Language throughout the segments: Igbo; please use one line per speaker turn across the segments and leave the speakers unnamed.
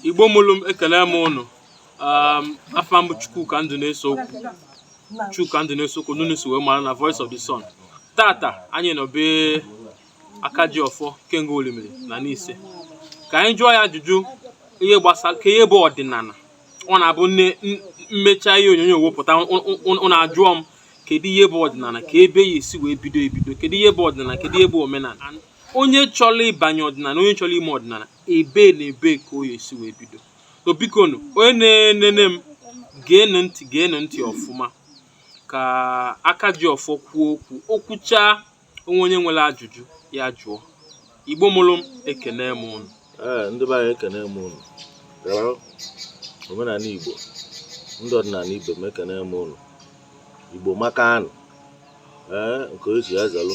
igbo mụrụ m ekele m ụnụ um, afa m bụ chukwuka nduneseokwu chuka nduneseokwu n'ụnụ si wee mara na voice of the sun tata anyị nọ be aka ji ọfọ ikenga orimiri na nise ka anyị jụọ ya ajụjụ ihe gbasara ka ihe bụ ọdịnala ọ na-abụ nne n- m mechaa ihe onyonyo wepụta ụnụ ajụọ m kedu ihe bụ ọdịnala kee ebe a ya-esi wee bido ebido kedu ihe bụ ọdịnala kedu ihe bụ omenala onye chọrọ ịbanye ọdịnala onye chọrọ ime ọdịnala ebe na ebe ka ọ ya-esi wee bido so biko nụ onye na-enene m geenụ ntị geenụ ntị ọfụma ka aka ji ọfọ kwuo okwu o kwuchaa o nwee onye nwere ajụjụ ya jụọ igbo mụrụ m ekene m ụnụ ee ndị be
anyị ekene m ụnụ omenala igbo ndị ọdịnala ibe m ekene m ụnụ igbo amaka nụ ee nke o ji ya zalụ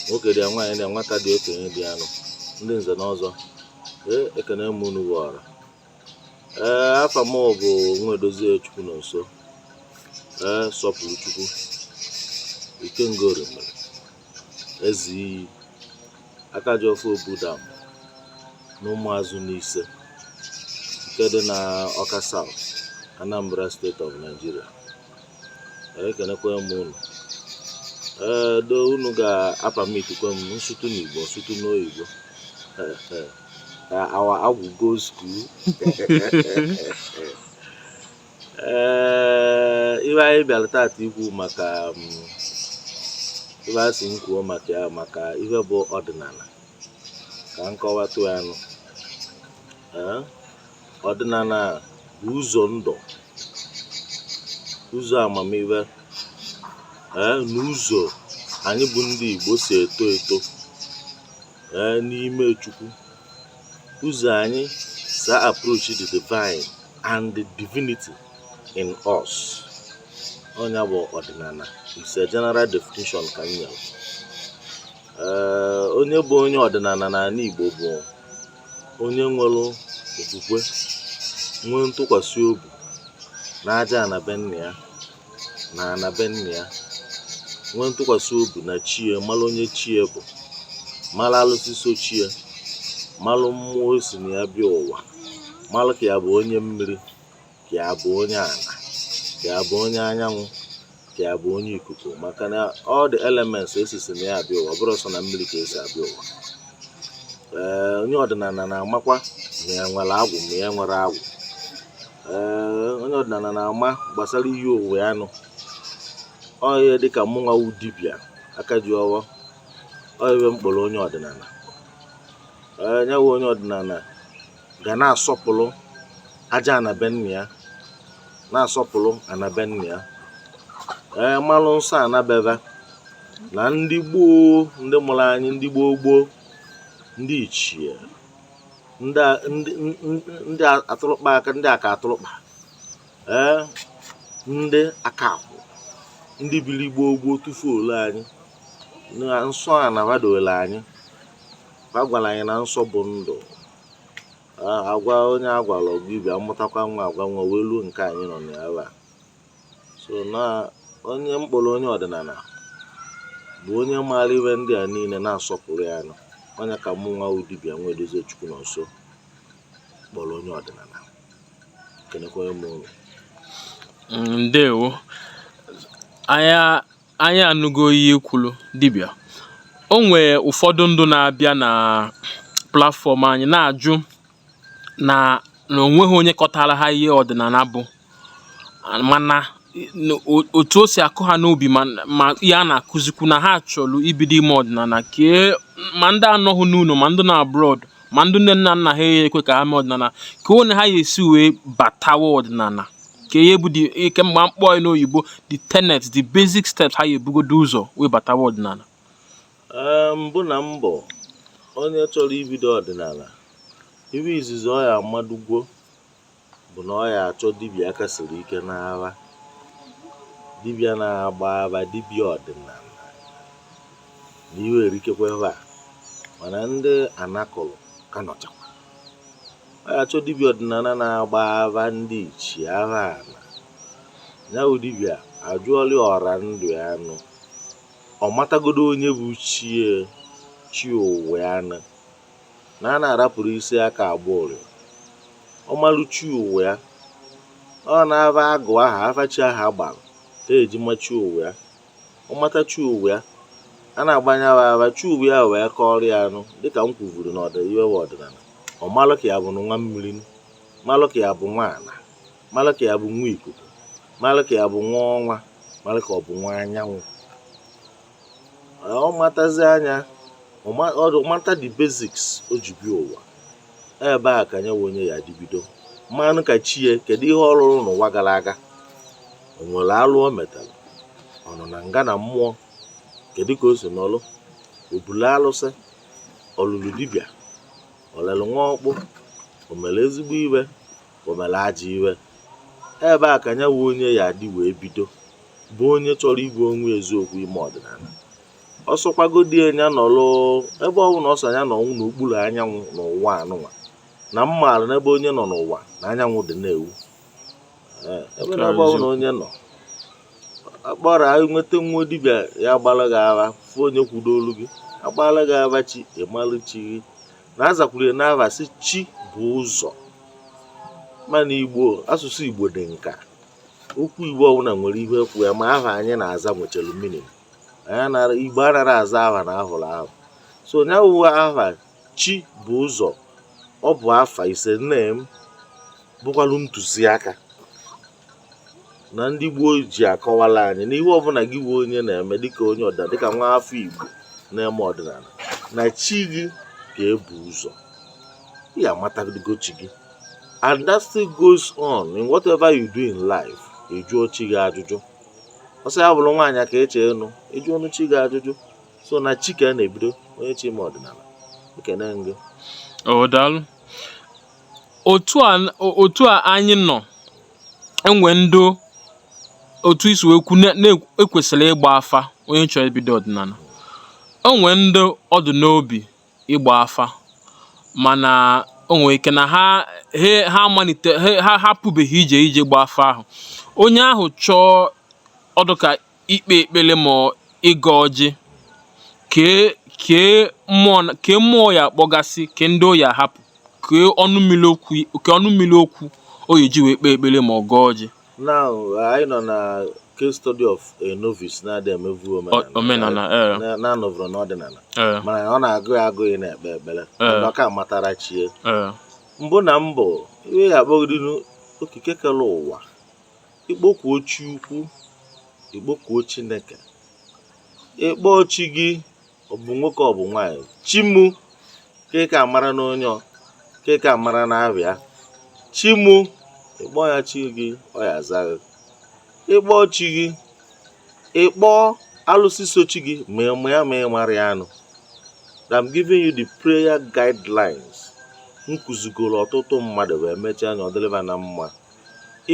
nwoke dị ya nwaanyị dị ya nwata dị okenye dị ya nụ ndị nze na ọzọ ee ekene m unu bụ ọra ee afa m bụ nwedozie chukwunọnso ee sọpụrụchukwu ikenga orimiri eze iyi aka ji ọfọ obudam na ụmụazụ nise nke dị na ọka south anambra state of nigeria ekenekwa m unu ee though unu ga-apermitkwa m m sụtụ n'igbo m sụtụ n'oyibo our agwụ go school ee ive anyị bịara tata ikwu maka ive a sị m kwuo maka ya maka ihe bụ ọdịnala ka m kọwatụ ya nụ ọdịnala bụ ụzọ ndụ ụzọ amamihe ee na ụzọ anyị bụ ndị Igbo si eto eto ee n'ime Chukwu ụzọ anyị si approach the divine and the divinity in us ọ nya bụ ọdịnala it's a general definition ka m nyere ee onye bụ onye ọdịnala n'ala Igbo bụ Onye nwere okwukwe, nwee ntụkwasị obi na aja ana be nne ya na ana be nna ya, nwee ntụkwasị obi na chi ye, mara onye chi ye bụ, mara alụsị so chi ye, mara mmụọ o si na ya bịa ụwa, mara ka ya bụ onye mmiri. ka ya bụ onye ala ka ya bụ onye anyanwụ ka ya bụ onye ikuku maka na all the elements e sisi na ya abịa ụwa ọ bụrọ sọ na mmiri ka e si abịa ụwa ee onye ọdịnala na-amakwa ma ya nwere agwụ ma ya nwerọ agwụ ee onye ọdịnala na-ama gbasara iyi ụwa ya nụ ọ ihe dịka mụnwa wu dibịa aka ji ọfọ ọ ihe m kpọrọ onye ọdịnala ee nya wu onye ọdịnala ga na-asọpụrụ aja ana be nna ya na-asọpụrụ ana be nna ya ee malụ nsọ ana be ha na ndị gboo ndị mụrụ anyị ndị gboo gboo ndị ichie ndị a- ndị ndị- ndị atụrụkpa aka ndị aka atụrụkpa ee ndị aka akwụ ndị biri gboo gboo tufuola anyị nsọ ana hadoola anyị a gwara anyị na nsọ bụ ndụ a gwa onye a gwara ọ ga-abịa mụtakwa nwa agwa nwa wee ruo nke anyị nọ n'ebe a so na onye m kpọrọ onye ọdịnala bụ onye maara ihe ndị a niile na-asọpụrụ ya nụ onye ka mụ nwa bụ dibịa nwaedozie chukwunọnso kpọrọ onye ọdịnala kenekwa m ụnụ
ndewo anya anyị anụgo ihe i kwuru dibịa o nwee ụfọdụ ndụ na-abịa na platfọm anyị na-ajụ na na o nweghị onye kọtara ha ihe ọdịnala bụ mana otu o si akụ ha n'obi ma ihe a na-akụzikwu na ha chọrọ ibido ime ọdịnala kee ma ndị anọghị n'ụlọ ma ndị nọ abroad ma ndị nne na nna ha ekwe ka ha mee ọdịnala kee onye ha ya esi wee batawa ọdịnala kee ihe bụ ihe m ga-akpọ n'oyibo the tenet the basic steps ha ya ebugodo ụzọ wee batawa
ọdịnala mbụ na mbụ onye chọrọ ibido ọdịnala iwe izizi ọ ya amadugwo bụ na ọ ya achọ dibịa aka siri ike n'afa dibịa na-agba afa dibịa ọdịnala na iwe erikakwa ebe a mana ndị a na-akụrụ aka nọchakwa ọ ya achọ dibịa ọdịnala na-agba afa ndị ichie afa ala ya bụ dibịa ajụọla ọra ndụ ya nụ ọ matagodo onye bụ chi ya chi ụwa ya nụ na a na-arapụrụ isi aka agba ụrịọ ọ malụ chi ụwa ya ọ na-aba agụ aha afa chi aha agbara ka e ji ama chi ụwa ya ọ mata chi ụwa ya a na-agbanye afa chi ụwa ya wee kọrọ ya nụ dịka m kwuvuru na ọ dị iwe ọdịnala ọ malụ ka ya bụ nwa mmiri malụ ka ya bụ nwa ala malụ ka ya bụ nwa ikuku malụ ka ya bụ nwa ọnwa malụ ka ọ bụ nwa anyanwụ ọ matazia nya ọ mata the basics o ji bịa ụwa ebe a ka nya bụ onye ya adị bido malụ ka chi ya kedu ihe ọ rụrụ n'ụwa gara aga o nwere alụ o metara ọ nọ na nga na mmụọ kedu ka o si nọlụ o bulu alụsị ọ lụlụ dibịa o lelu nwa ọkpụ o mere ezigbo iwe o mere ajọ iwe ebe a ka nya bụ onye ya adị wee bido bụ onye chọrọ ịgwa onwe eziokwu ime ọdịnala ọ sọkwagodị ya ya nọrọ ebe ọ bụla ọ sọ ya nọ n'okpuru anyanwụ n'ụwa anụnwa na m maara n'ebe onye nọ n'ụwa na anyanwụ dị na-ewu Ee, ebe na ebe ọ bụla onye nọ akpọrọ anyị nweta nwa dibịa ya agbara gị afa fụ onye kwudolu ga-agbara gị afa chi ịmalụ chi gị na azakwuru ya n'aha sị chi bu ụzọ mana igbo asụsụ igbo dị nka okwu igbo ọbụla nwere ihe ekwu ya ma aha anyị na-aza nwechara meaning igbo anaghị aza aha na ahụrụ ahụ so nya wụ aha chi bu ụzọ ọ bụ afa is a name bụkwalụ ntụziaka na ndị gboo ji akọwala anyị na ihe ọbụla gị bụ onye na-eme dịka onye ọdịnala dịka nwa afọ igbo na-eme ọdịnala na chi gị ka ebu ụzọ ya amatago chi gị and that still goes on in whatever you do in life ịjụọ chi gị ajụjụ ọ sọ ya bụrụ nwaanyị ka eche enu ị jụọnụ chi gị ajụjụ so na chi ka a na-ebido onye chọ ime ọdịnala ekene m gị o
daalụ otu a otu a anyị nọ enwe ndị otu i si wee kwu na-ekwesịrị ịgba afa onye chọrọ ibido ọdịnala enwe ndị ọ dụ n'obi ịgba afa mana o nwere ike na ha he ha amalite he ha apụbeghị ije ije gba afa ahụ onye ahụ chọọ ọ dịka ikpe ekpere ma ọ ịgọ ọjị kee kee mmụọ na- kee mmụọ ọ ya akpọgasị kee ndị ọ ya ahapụ kee ọnụ mmiri okwu kee ọnụ mmiri okwu ọ ya eji wee kpee ekpere ma ọ gọọ ọjị now
anyị nọ na case study of a novice na-adị emevu omenala na-anọvụrụ n'ọdịnala mana ọ na-agụ ya agụụ ị na-ekpe ekpere ọ ka amatara chi e mbụ na mbụ ị ya akpọgodinu okike kere ụwa ị kpọkuo chi ukwu ị kpọkuo chineke ị kpọọ chi gị ọ bụ nwoke ọ bụ nwaanyị chi mụ ka ị ka mara na onye ọ ka ị ka mara na abịa chi mụ ịkpọ ya chi gị ọ ya aza gị ịkpọ chi gị ịkpọ alụsị so chi gị ma ị ma ya ma ị mara ya anụ that I'm giving you the prayer guidelines m kụzigoro ọtụtụ mmadụ wee mechaa anya ọ dịrị va na mma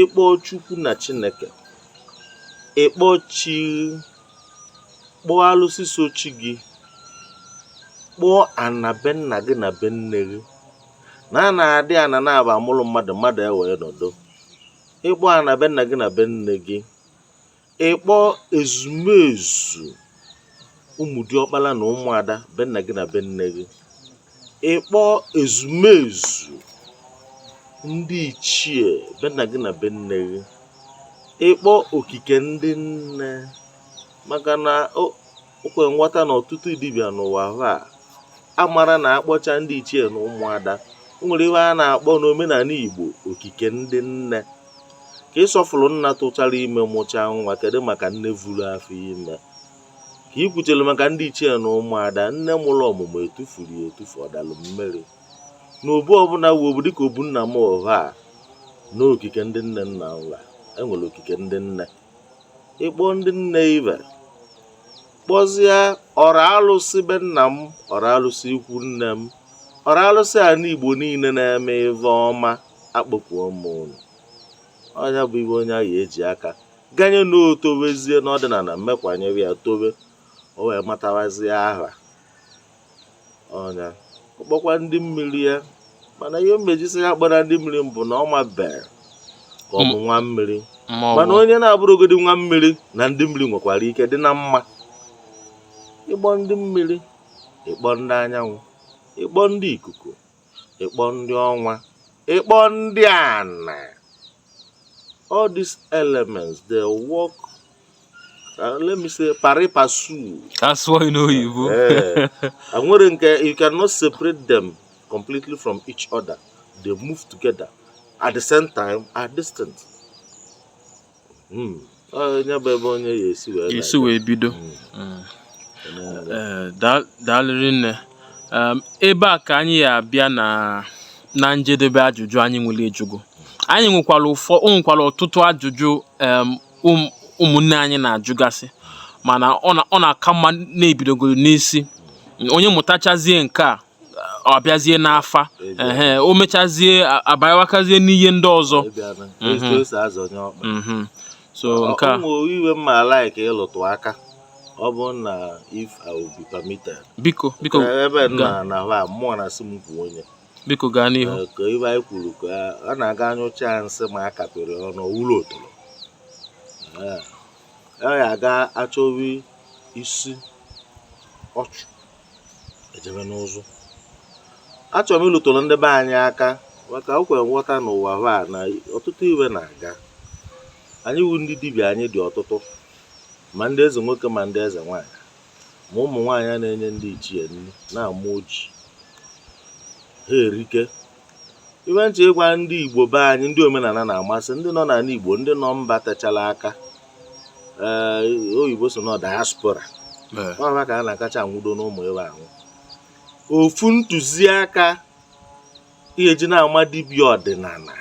ịkpọ chukwu na chineke ịkpọ chi kpọọ alụsị so chi gị kpọọ ana be nna gị na be nne gị na a na-adị ana na-aba amụrụ mmadụ mmadụ ewee nọdụ ịkpọ ana be nna gị na be nne gị ịkpọ ezumezu ụmụ diọkpala na ụmụada be nna gị na be nne gị ịkpọ ezumezu ndị ichie be nna gị na be nne gị ịkpọ okike ndị nne maka na o o kwere nghọta na ọtụtụ dibịa n'ụwa ha a mara na akpọcha ndị ichie na ụmụada o nwere ihe a na-akpọ n'omenala igbo okike ndị nne ka ị sọfụrụ nna tụchara ime mụchaa nwa kedu maka nne vuru afọ ime ka i kwuchelu maka ndị ichie na ụmụada nne mụrụ ọmụmụ etufuru ya etufu ọ dalụ mmiri na obu ọbụla wu obu dịka obu nna m ọha a n'okike ndị nne nna ụla enwere okike ndị nne ịkpọ ndị nne i wee kpọzie ọra alụsị be nna m ọra alụsị ikwu nne m ọra alụsị ana igbo niile na-eme ive ọma akpọkuo m unu ọ ya bụ ive onye ahụ eji aka ganye na o towezie n'ọdịnala mmekwanyere ya towe o wee matawazie aha onye ọ kpọkwa ndị mmiri ya mana ihe m eji sị ya akpọna ndị mmiri bụ na ọ mabere ka ọ bụ nwa mmiri mana onye na-abụrụgodi nwa mmiri na ndị mmiri nwekwara ike dị na mma ịkpọ ndị mmiri ịkpọ ndị anyanwụ ịkpọ ndị ikuku ịkpọ ndị ọnwa ịkpọ ndị ana all these elements they work uh, let me say pari passu that's why you know
oyibo eh, nwere
nke you cannot separate them completely from each other they move together at the same time at distance
Hmm. esi wee bido hmm. eh, daalụ rinne ehm, ebe a ka anyị ya abịa na na njedebe ajụjụ anyị nwere ịjụ gị anyị nwekwara ụfọ nwekwara ọtụtụ ajụjụ ehm, um, ụmụnne anyị na-ajụgasị mana ọ na-aka mma na-ebidogoro n'isi onye mụtachazie nke a ọ bịazie n'afa ehe o mechazie a- abanyewakazie n'ihe ndị ọzọ ịbịana Mhm. etu esi azọnye ọkpa Mhm. so nke a ụmụ ive m ma like
ịlụtụ aka ọ bụrụ na if I will be permitted biko biko Ka
ebe m ga-
na na ha mmụọ na asị m bụ onye biko gaa
n'ihu Eh, ka ibe anyị kwuru
ka a na-aga anyụcha ya nsị ma a kapịrị ọnụ ọ wụrụ otoro Eh, ọ ya aga achọwa isi ọchụ e jebe n'ụzụ achọrọ m ịlụtụrụ ndị be anyị aka maka o kwere nghọta n'ụwa hụ a na ọtụtụ ive na-aga anyị wu ndị dibịa anyị dị ọtụtụ ma ndị eze nwoke ma ndị eze nwaanyị ma ụmụ nwaanyị na-enye ndị ichie nri na-awa ọjị ha erike iwe nche ịgwa ndị Igbo be anyị ndị omenala na-amasị ndị nọ n'ala Igbo ndị nọ mba techala aka ee eh, oyibo so na diaspora eh. ọ ha ka a na-akacha anwụdo n'ụmụ iwe ahụ ofu ntụziaka ihe e ji na-ama dibịa ọdịnala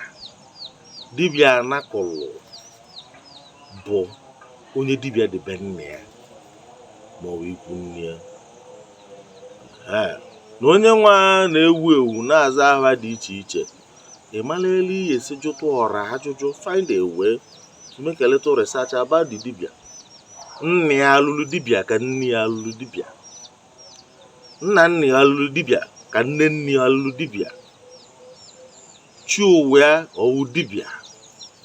dibịa anakụlụ bụ onye dibịa dị be nna ya maọbụ ikwu nne ya ee na onye nwe a na-ewu ewu na-aza aha dị iche iche ị mara elu ị ya-esi jụtụ ọra ajụjụ find a way to make a little research about the dibia nna ya alụlụ dibia ka nne ya alụlụ dibia nna nna ya alụlụ dibia ka nne nne ya alụlụ dibia chi ụwa ya ọ wụ dibia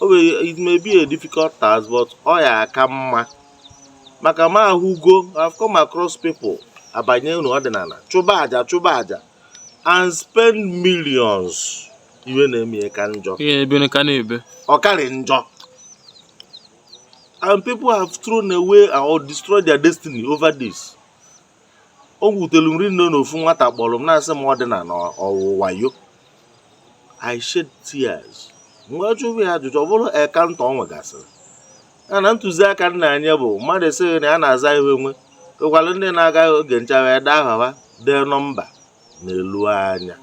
o nwere it may be a difficult task but ọ ya-aka mma maka m ahụgo I've come across people abanye n'ọdịnala chụba aja chụba aja and spend millions iwe na-eme ya ka njọ ọ karị njọ and people have thrown away or destroyed their destiny over this o wutelu m rinne na ofu nwata kpọrọ m na-asị m ọdịnala ọ wụ wayo I shed tears mgbe m jụrụ ya ajụjụ ọ bụrụ encounter o nwegasịrị ya na ntụziaka m na-enye bụ mmadụ esighị na ya na-aza ihu enwe ekwalụ ndị na-aga oge ncha e dee aha ha dee nọmba n'elu anya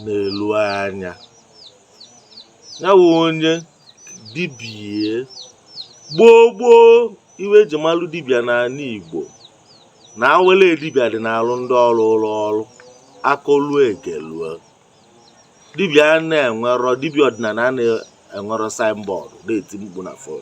n'elu anya ya wụ onye dibịa gboo gboo iwe eji malụ dibịa n'ala Igbo na a wele dibịa dị n'arụ ndị ọ rụụrụ ọrụ akọlụ egelue dibịa na-enwerọ dibịa ọdịnala na-enwerọ signboard na-eti mkpu na fon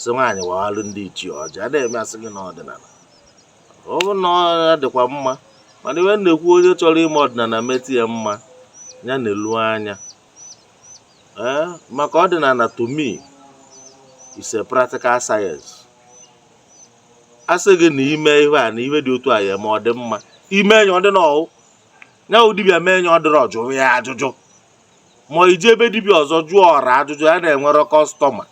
sị nwaanyị wawalụ ndị ichie ọjị a na-eme asị gị na ọdịnala ọ bụrụ na ọ dịkwa mma mana iwe m na-ekwu onye chọrọ ime ọdịnala meta ya mma ya na-elu anya ee maka ọdịnala to me is a practical science a sị gị na ime ihe a na ihe dị otu a ya ma ọ dị mma ime enye ọ dị n'ọwụ ya wụ dibịa mee enye ọ dịrị ọ jụọ ya ajụjụ ma i jee be dibịa ọzọ jụọ ọra ajụjụ ya na-enwere customer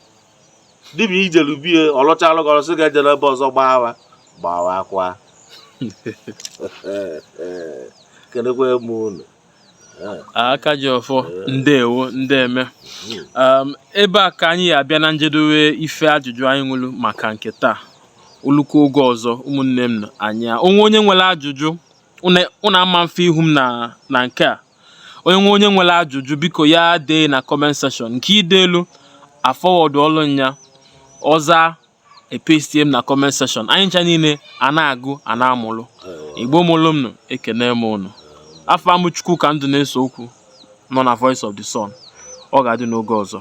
dibịa i jelu be ya ọ lụchalụ gị ọlụ sị ga-ejele ebe ọzọ gbaa awa gbaa awa kwa kenekwa m unu
aka ji ọfọ ndewo ndeme um, ebe a ka anyị ya-abịa na njedowe ife ajụjụ anyị nwelu maka nke taa o lukwa oge ọzọ ụmụnne m na anyị onwe onye nwere ajụjụ unu ama mfe ihu m na nke a onye nwe onye nwere ajụjụ biko ya dee na comment section nke i delu a forwardụọlụ nya ọ zaa e pestie m na comment section anyị ncha niile a na-agụ a na-amụlụ igbo mụlụ m nụ ekene m ụnụ afa m bụ chukwuka ndụneseokwu nọ na voice of the sun ọ ga-adị n'oge ọzọ